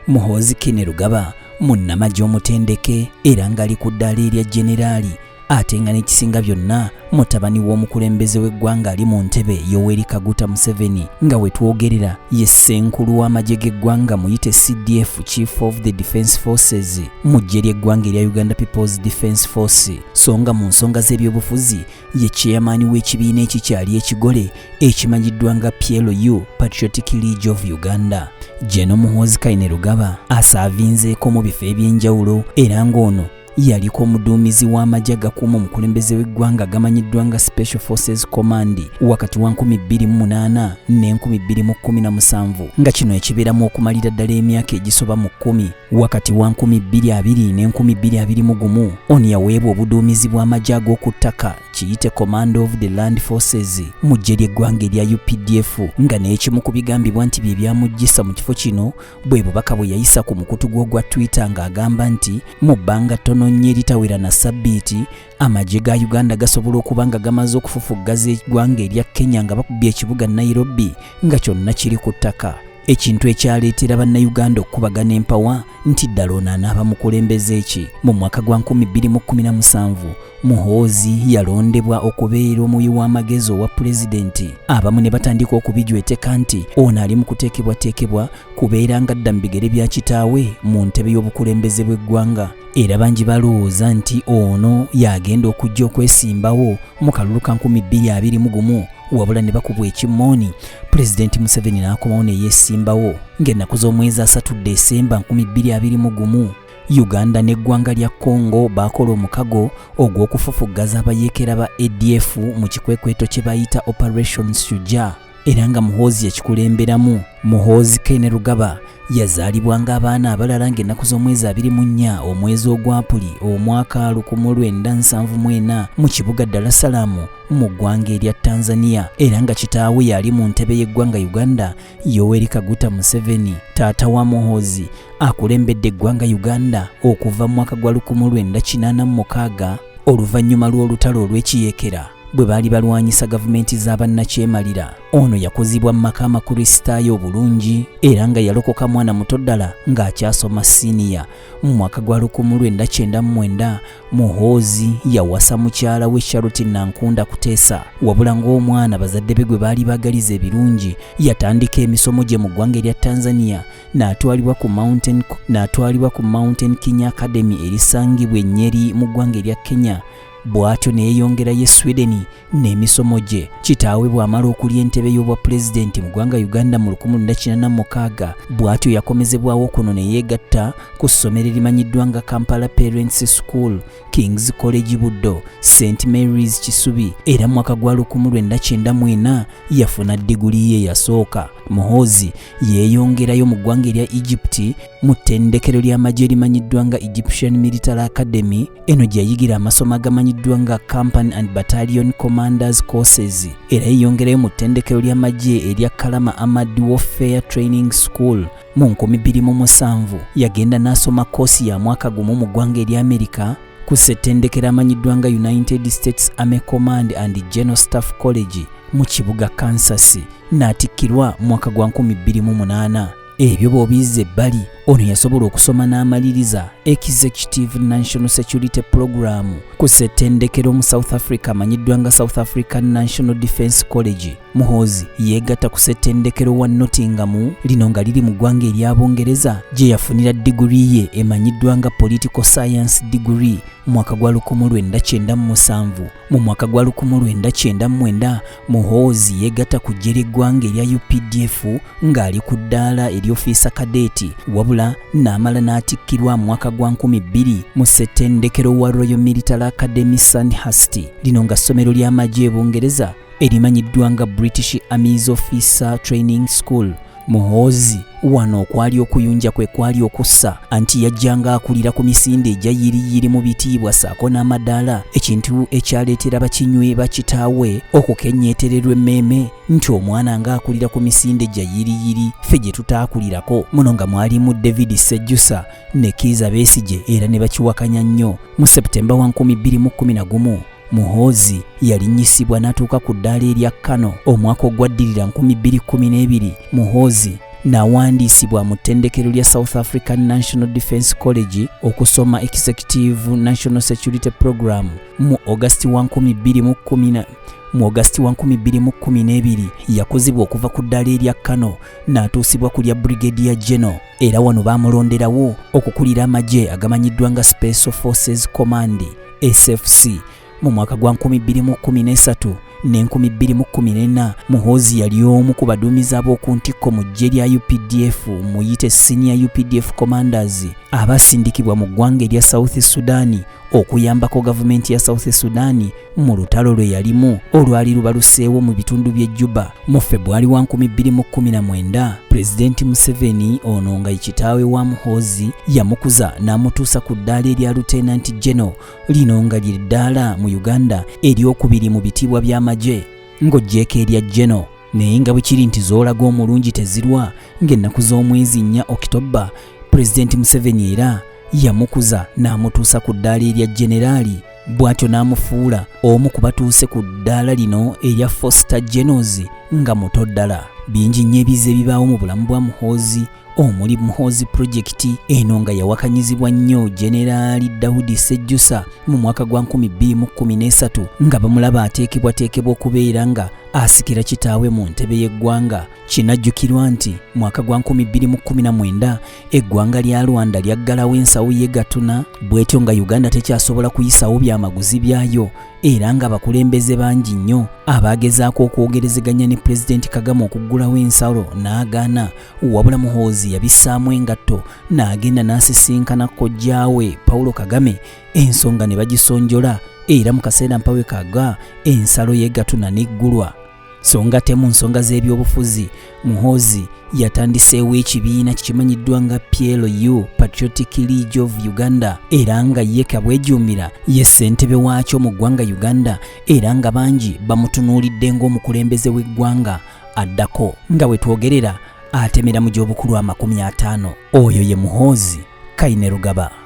muhoozi kine lugaba munnamagye omutendeke era ng'ali ku ddaala erya generali ate nga n'ekisinga byonna mutabani w'omukulembeze w'eggwanga ali mu ntebe yoweri kaguta museveni nga wetwogerera ye ssenkulu w'amagye g'eggwanga muyite cdf chief of the defence forces mu ggye ly'eggwanga erya uganda peoples defence force so nga mu nsonga z'ebyobufuzi ye chairman w'ekibiina ekikyali ekigole ekimanyiddwa nga PLU Patriotic League of Uganda Jeno Muhoozi Kainerugaba asaavinzeeko mu bifo eby'enjawulo era ng'ono yaliko omuduumizi w'amagye agakuuma omukulembeze w'eggwanga agamanyiddwa nga Special Forces Command wakati wa 2008 ne 2017 nga kino ekibeeramu okumalira ddala emyaka egisoba mu kkumi Wakati wa 2020 ne 2021 on yaweebwa obuduumizi bw'amagye ag'oku ttaka kiyite Command of the Land Forces mu ggye ly'eggwanga erya UPDF nga n'ekimu ku bigambibwa nti bye byamuggyisa mu kifo kino bwe bubaka bwe yayisa ku mukutu gw'ogwa Twitter ng'agamba nti mu bbanga ttono nnyo eritawera na ssabbiiti amagye ga Uganda gasobola okuba nga gamaze okufufuggaza eggwanga erya Kenya nga bakubye ekibuga Nairobi nga kyonna kiri ku ttaka ekintu ekyaleetera bannayuganda okukubagana empawa nti ddala ono anaaba mukulembeze ki mu mwaka gwa 2017 muhoozi yalondebwa okubeera omuwi w'amagezi owa pulezidenti abamu ne batandika okubijweteka nti ono ali mu kuteekebwateekebwa kubeera nga dda mu bigere bya kitaawe mu ntebe y'obukulembeze bw'eggwanga era bangi balowooza nti ono y'agenda okujja okwesimbawo mu kalulu ka 2021 wabula ne bakubwa ekimmooni pulezidenti museveni n'akomawo ne yeesimbawo ng'ennaku z'omwezi asatu desemba 2021 uganda n'eggwanga lya congo baakola omukago ogw'okufufuggaza abayeekera ba adf mu kikwekweto kye bayita operation suja era nga muhoozi yakikulemberamu muhoozi kene rugaba yazaalibwa ng'abaana abalala ng'ennaku z'omwezi abiri mu nnya omwezi ogwapuli omwaka lukumu lwenda nsanvu mwena mu kibuga dalasalaamu mu ggwanga erya Tanzania era nga kitaawe yali mu ntebe y'eggwanga Uganda Yoweri Kaguta Museveni taata wa Muhoozi akulembedde eggwanga Uganda okuva mu mwaka gwa 1986 oluvannyuma lw'olutalo olw'ekiyekera bwe baali balwanyisa gavumenti z'abannakyemalira ono yakuzibwa mu maka amakristaayo obulungi era nga yalokoka mwana muto ddala ng'akyasoma siniya Mu mwaka gwa lukumu lwenda kyenda mu mwenda Muhoozi yawasa mukyala we Charlotte Nankunda Kuteesa wabula ng'omwana bazadde be gwe baali baagaliza ebirungi yatandika emisomo gye mu ggwanga erya Tanzania n'atwalibwa ku Mountain n'atwalibwa ku Mountain Kenya Academy erisangibwa e Nyeri mu ggwanga erya Kenya bw'atyo ne yeeyongerayo e Sweden n'emisomo gye. Kitaawe bw'amala okulya entebe y'obwapulezidenti mu ggwanga Uganda mu 1946 bw'atyo yakomezebwawo kuno ne yeegatta ku ssomero erimanyiddwa nga Kampala Parents School, King's College Buddo, St Mary's Kisubi era mu mwaka gwa 1994 yafuna diguli ye yasooka. Muhoozi yeeyongerayo mu ggwanga erya Egypt mu ttendekero ly'amagye erimanyiddwa nga Egyptian Military Academy Eno gye yayigira amasomo agamanyiddwa nga Company and Battalion Commanders Courses era yeyongerayo mu ttendekero ly'amagye erya Kalama Armored Warfare Training School mu 2007. Yagenda n'asoma koosi ya mwaka gumu mu ggwanga erya Amerika ku ssettendekero amanyiddwa nga United States Army Command and General Staff College mu kibuga Kansas n'atikkirwa mwaka gwa 2008. ebyo bw'obiyizza ebbali ono yasobola okusoma n'amaliriza executive national security program ku ssettendekero mu south africa amanyiddwa nga south african national defence college muhoozi yeegatta ku ssettendekero wa nottingamu lino nga liri mu ggwanga erya bungereza gye yafunira diguli ye emanyiddwa nga political science diguli mwaka gwa 1997 mu mwaka gwa 1999 Muhoozi yeegatta ku ggye ly'eggwanga erya updf ng'ali ku ddaala ery'ofiisa kadeeti wabula n'amala n'atikkirwa mu mwaka gwa 2000 mu ssettendekero wa Royal Military Academy Sandhurst lino nga ssomero ly'amagye e Bungereza erimanyiddwa nga British Army's Officer Training School Muhoozi wano okwali okuyunja kwe kwali okussa anti yajjanga akulira ku misinde egya yiriyiri mu bitiibwa ssaako n'amadaala ekintu ekyaleetera bakinywi bakitaawe okukenyeetererwa emmeeme nti omwana ng'akulira ku misinde gya yiriyiri ffe gye tutaakulirako muno nga mwalimu david sejjusa ne kiiza besigye era ne bakiwakanya nnyo mu septemba wa 211 Muhoozi yalinnyisibwa n'atuuka ku ddaala erya Kano omwaka ogwaddirira 2012. Muhoozi nawandiisibwa mu ttendekero lya South African National Defence College okusoma Executive National Security Program mu August wa 2010 mu August wa 2012 yakuzibwa okuva ku ddaala erya Kano n'atuusibwa ku lya Brigadier General era wano baamulonderawo okukulira amagye agamanyiddwa nga Special Forces Command SFC mu mwaka gwa 2013 ne 2014 Muhoozi yali omu ku baduumizi ab'oku ntikko mu ggye lya UPDF muyite senior UPDF commanders abasindikibwa mu ggwanga erya South Sudan okuyambako gavumenti ya South Sudan mu lutalo lwe yalimu olwali lubaluseewo mu bitundu by'e Juba Mu Febwali wa 2019, Pulezidenti Museveni ono nga ye kitaawe wa Muhoozi yamukuza n'amutuusa ku ddaala erya Lieutenant General, lino nga lye ddaala mu Uganda eryokubiri mu bitiibwa by'amagye ng'oggyeeko erya General naye nga bwe kiri nti zoolaga omulungi tezirwa ng'ennaku z'omwezi nnya Okitobba, Pulezidenti Museveni era yamukuza n'amutuusa ku ddaala erya Generaali. bw'atyo n'amufuula omu ku batuuse ku ddaala lino erya foster genos nga muto ddala bingi nnyo ebize ebibaawo mu bulamu bwa muhoozi omuli muhoozi pulojekiti eno nga yawakanyizibwa nnyo generaali dawudi sejjusa mu mwaka gwa 2013 nga bamulaba ateekebwateekebwa okubeera nga asikira kitaawe mu ntebe y'eggwanga kinajjukirwa nti mwaka gwa 2019 eggwanga lya rwanda lyaggalawo ensawo ye gatuna bwetyo nga uganda tekyasobola kuyisawo byamaguzi byayo era nga bakulembeze bangi nnyo abaagezaako okwogerezeganya ne pulezidenti kagame okuggulawo ensalo n'agaana wabula muhoozi yabissaamu engatto n'agenda n'asisinkana kojjaawe paulo kagame ensonga ne bagisonjola era mu kaseera mpawe kaga ensalo ye gatuna n'eggulwa so nga temu nsonga z'ebyobufuzi muhoozi yatandiseewo ekibiina kikimanyiddwa nga plu patriotic league of uganda era nga ye kabwejuumira ye ssentebe waakyo mu ggwanga uganda era nga bangi bamutunuulidde ng'omukulembeze w'eggwanga addako nga bwe twogerera atemera mu gy'obukulu amakumi ataano oyo ye muhoozi Kainerugaba.